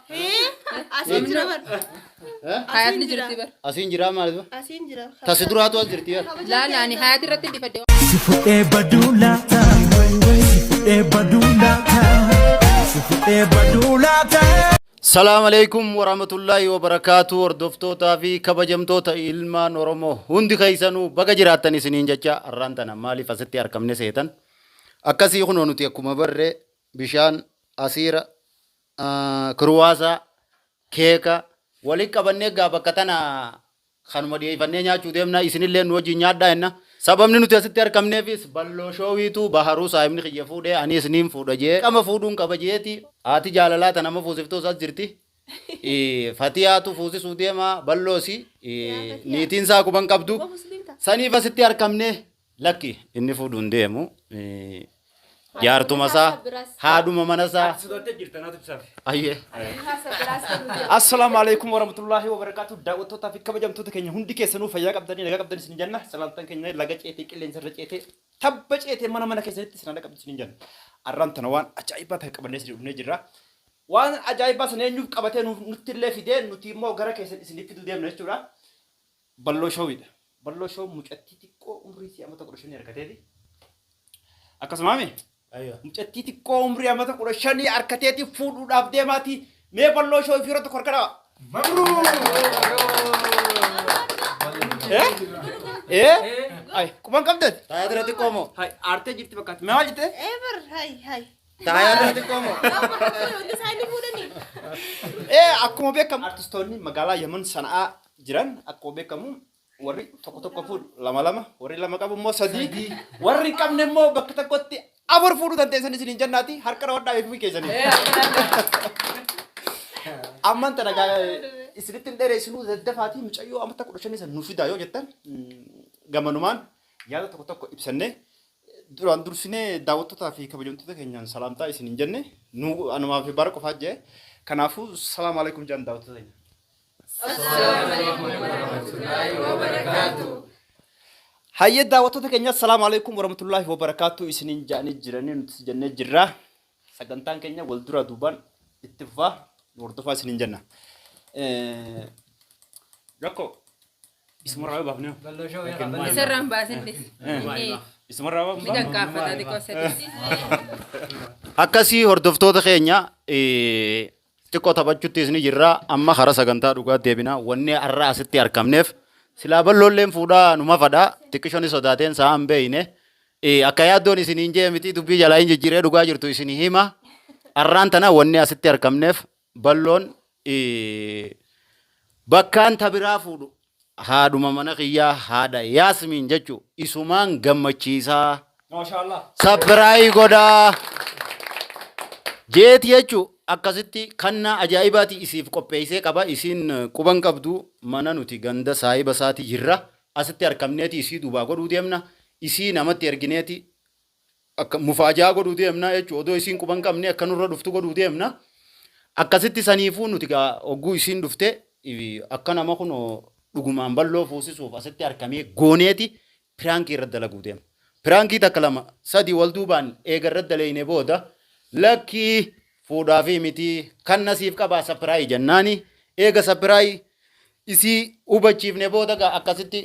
Hee? Asiin jira bar. Eh? Hayaatni jirti bar. Asiin jiraa maal dura? Asiin jira. Tasi duraatu as jirti bar. Laala ani hayaati irratti hin dhifadde. Si fudhee baduu laata. Si fudhee baduu laata. Si fudhee baduu laata. Salaam alaikum warahmatullahi wabarakatuh hordoftootaa fi kabajamtoota ilmaan Oromoo hundi keessanuu baga jiraattan isiniin jecha har'aan tana maaliif asitti argamne seetan akkasii kunoo nuti akkuma barree bishaan asiira Kiruwaasa, keeka, walitti qabannee egaa bakka tana kanuma dhiyeeffannee nyaachuu deemna. Isinillee nu wajjin nyaadhaa jenna. Sababni nuti asitti argamneefis balloo shoowiitu baharuu saahibni kiyya fuudhee aniis niin fuudha jee qama fuudhuun qaba jeeti. Haati jaalalaa tana amma fuusiftuus as jirti. Fatiyaatu fuusisuu deema balloosi niitiin isaa quban qabdu. Saniif asitti argamne Lakki inni fuudhu hin deemu. Jaartuma isaa haadhuma mana isaa. Ati sodaattee jirta naatu ibsaaf. Ayyee. Assalaamu alaikum warahmatullaahi wabarakaatu daawwattootaa fi kabajamtoota keenya hundi keessanuu fayyaa qabdanii nagaa qabdan isin jenna salaamtaan keenya laga ceetee qilleensa irra ceetee tabba ceetee mana mana keessanitti isin dhaqqabdu isin jenna arraan tana waan ajaa'ibaa ta'e qabannee isin dhufnee jirra waan ajaa'ibaa sana eenyuuf qabatee nuuf nutti illee fidee nuti immoo gara keessan isiniif fiduu deemna jechuudha Balloo Showidha. Balloo Show mucattii xiqqoo umrii isii amata kudha shanii harkateeti. Akkasumaami Aywa. mucattii xiqqoo umrii amata kudha shanii harkateeti fuudhuudhaaf deemaati. Mee Balloo Show fi irratti korka dhawa. Eh? Eh? Ay, quban qabdan? Taayaa dura xiqqoo moo? Hay, aartee jirti fakkaatti. Mee maal jette? Ever, hai, hai. Taayaa dura xiqqoo moo? Isaanii fuudhanii. Eh, akkuma beekamu artistoonni magaalaa Yaman Sana'aa jiran akkuma beekamu warri tokko tokko fuudhu lama lama warri lama qabu immoo sadii warri hin qabne immoo bakka tokkotti afur fuudhuu dandeessan isin hin jennaati harka rawadhaa eeguu keessanii. Amman tana gaa isinitti hin dheeressinuu daddafaatii mucayyoo amata kudha shanii san nu fidaa yoo jettan mm, gamanumaan yaada tokko tokko ibsannee duraan dursinee daawwattootaa fi kabajamtoota keenyaan salaamtaa isin hin jenne nu anumaa fi bara qofaa jee kanaafuu salaam alaikum jaan daawwattoota keenya. Assalamu alaikum warahmatullahi wabarakatuh. Hayyee daawwattoota keenya assalaamu alaikum warahmatullahi wabarakatuh isiniin ja'anii jiranii nuti jennee jirra. Sagantaan keenya wal duraa duubaan itti fufaa nu hordofaa isiniin jenna. Eh, Rakko isumarraa yoo baafnee Isarraan baasin dhis. isumarraa yoo Ni baafnee dankaafata xiqqoo sadiitti. Akkasii hordoftoota keenya eh, Xiqqoo taphachuttis ni jirra. Amma karaa sagantaa dhugaatti deebina. Wanni har'a asitti argamneef silaa balloolleen fuudhaa nu mafadha. Xiqqishoonni sodaateen sa'a hin beeyne. Eh, Akka yaaddoon isiniin jee miti dubbii jalaa hin jijjiiree dhugaa jirtu isin hima. Har'aan tana wanni asitti argamneef balloon eh, bakkaan tabiraa fuudhu. Haadhuma mana kiyyaa haadha Yaasmiin jechu isumaan gammachiisaa. Maashaallah. Sabbiraayi godhaa. Jeeti jechu akkasitti kannaa ajaa'ibaati isiif qopheessee qaba isiin quban qabdu mana nuti ganda saahiba isaati jirra asitti arkamneeti isii dubaa godhuu deemna isii namatti ergineeti akka mufaajaa godhuu deemna jechuudha. Odoo isiin quba hin qabne akka nurra dhuftu godhuu deemna. Akkasitti saniifuu nuti gaa hogguu isiin dhufte i- akka nama kun dhugumaan balloo fuusisuuf asitti harkamee gooneeti piraankii irra dalaguu deema. Piraankii takka lama sadii wal duubaan eega irra daleeyne booda lakkii fuudhaa fi mitii kan nasiif qabaa sapiraayi jennaani eega sapiraayi isii hubachiifne booda gaa akkasitti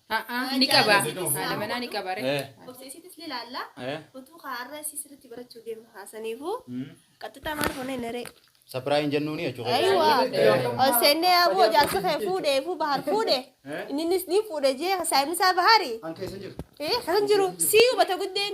A'aa ni qaba. Haadha manaa ni qaba ree. Eh. Obseesiitis ni ilaalla. Eh. Utuu kaarra isii sirriitti barachuu deemu haasaniifu. Qaxxixaa maal hone naree. Sapiraayin jennuuni jechuudha. Aywa. Ol seennee aboo jaarsa kee fuudhee fuu bahar fuudhe. Innis ni fuudhe jee saayimisaa bahari. An keessa hin jiru. Eh kan jiru sii hubata guddeen.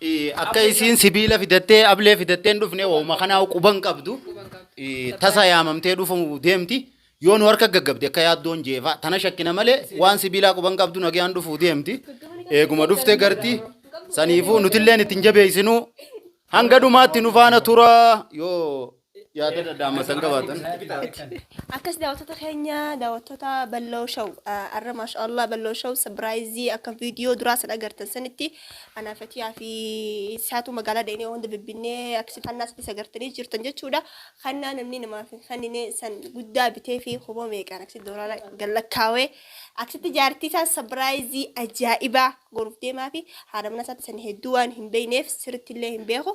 Eh, Akka isiin sibiila fidattee ablee fidattee hin dhufne wauma kanaa quban qabdu eh, tasa yaamamtee dhufu deemti. Yoo nu harka gaggabde akka yaaddoon jeefaa tana shakkina malee waan sibiilaa quban qabdu nagaan dhufu deemti. Eeguma dhufte garti saniifuu nutilleen ittiin jabeessinuu hanga dhumaatti nu faana tura yoo yaada dhadhaama san qabaatan. Akkas daawwattoota keenya daawwattoota balloo shaw arra maasha Allah balloo shaw sabiraayizii akka viidiyoo duraa san agartan sanitti anaa fatiyaa fi isaatu magaalaa deemnee hunda bibbinnee akkasi kannaa sadis agartanii jirtan jechuudha. Kannaa namni namaaf hin kennine san guddaa bitee fi kumoo meeqaan akkasi doolaara gallakkaawee akkasitti jaartii isaa sabiraayizii ajaa'ibaa goruuf deemaa fi haadha mana isaatti san hedduu waan hin beekneef sirriitti illee hin beeku.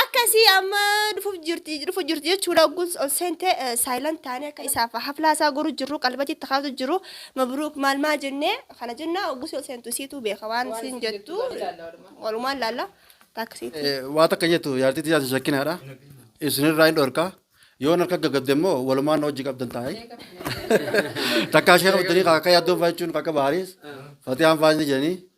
Akka isii amma dhufuuf jirti dhufu jirti jechuudha ogguun ol seente saayilan taanee akka isaaf haflaa isaa goru jirru qalbatti itti kaatu jiru mabruuk maal maa jennee kana jenna ogguus ol seentu isiitu beeka waan isiin jettu walumaan laalla taaksiiti. Waa takka jettu jaartii tiyyaas hin shakkinaadha. Isinirraa hin dhorka. Yoon harka gaggabde immoo walumaan na hojii qabdan taa'e. Takkaa ishee qabatanii akka yaaddoon fa'aa jechuun akka baariis fatiyaan fa'aa ni jedhanii.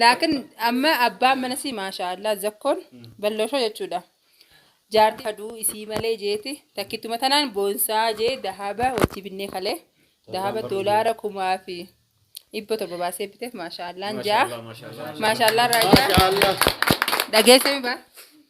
Laakiin amma abbaan mana sii maashaa Allah zakkoon balloosoo jechuudha. Jaartii aduu isii malee jeeti takkittuma tanaan boonsaa jee dahaba wajji binnee kalee dahaba doolaara kumaa fi dhibba torba baasee biteef maashaa Allah jaa maashaa Allah raayyaa dhageessee mi baa.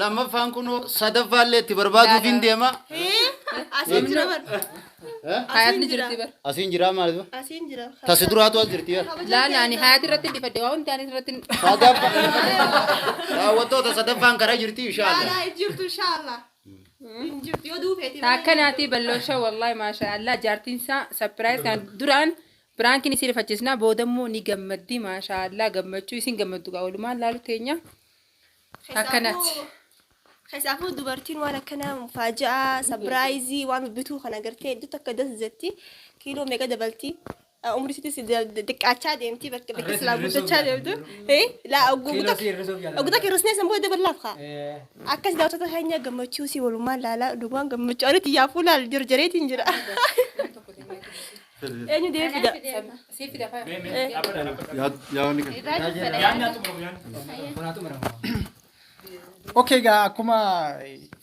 Lammaffaan kunoo sadaffaa illee itti barbaaduufiin deema. Asiin jira bar. Eh? Hayaatni jirti bar. Asiin jiraa maal dura? Asiin jira. Tasi duraatu as jirti bar. Laala ani hayaati irratti dhifadhe waa hundi ani irratti Sadaffaa. Daawwattoota sadaffaan karaa jirti inshaallah. Laalaa hin jirtu inshaallah. Hin jirtu yoo duufeeti. Taakka naatii balloosha wallahi maasha Allah jaartiin isaa sapiraayiz kan duraan biraankiin isin rifachiisna boodammoo ni gammaddi maasha Allah gammachuu isin gammaddu gaa walumaan laalu teenya. Akkanatti. Keessaafuu dubartiin waan akkanaa faaja'aa, sabiraayizii, waan bibbituu kan agartee hedduu takka das jetti. Kiiloo meeqa dabalti. Umri sitis diqqaachaa deemti bakka bakka silaa guddachaa deemtu. Laa ogguu Kiiloo si hir'isuuf yaala. Ogguu takka hir'isnee san booda daballaaf kaa. Akkas daawwattoota keenya gammachuu si walumaan laalaa dhugumaan gammachuu ani xiyyaa fuulaa jarjareetiin jira. Eenyu deebii fida? Siif fida fa'aa. Yaadni kan. Irraa jiru fedha Yaadni yaadni. xumuramu yaadni. Kunaa xumuramu. Okay, egaa akkuma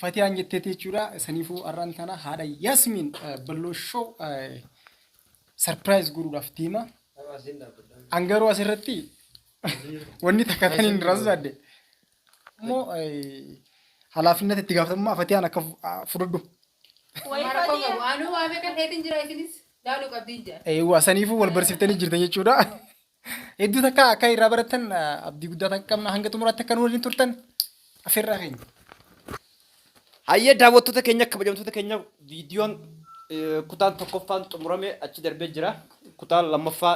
Fatiyaan jetteetti jechuudha. Saniifuu har'aan tana haadha Yasmin Balloo Show sarpiraayiz godhuudhaaf deema. An garuu asirratti wanni takka tan hin rasadde. Immoo halaafinnet itti gaafatamummaa fatiyaan akka fudhudhu. Anuu waa meeqa keetiin jira isinis laaluu qabdiin jira. Eewwa saniifuu wal barsiiftanii jirtan jechuudha. Hedduu takka akka irraa barattan abdii guddaa takka qabna hanga xumuraatti akka nu waliin turtan affeerraa keenya. Hayyee daawwattoota keenya kabajamtoota keenya viidiyoon kutaan tokkoffaan xumuramee achi darbee jira. Kutaan lammaffaa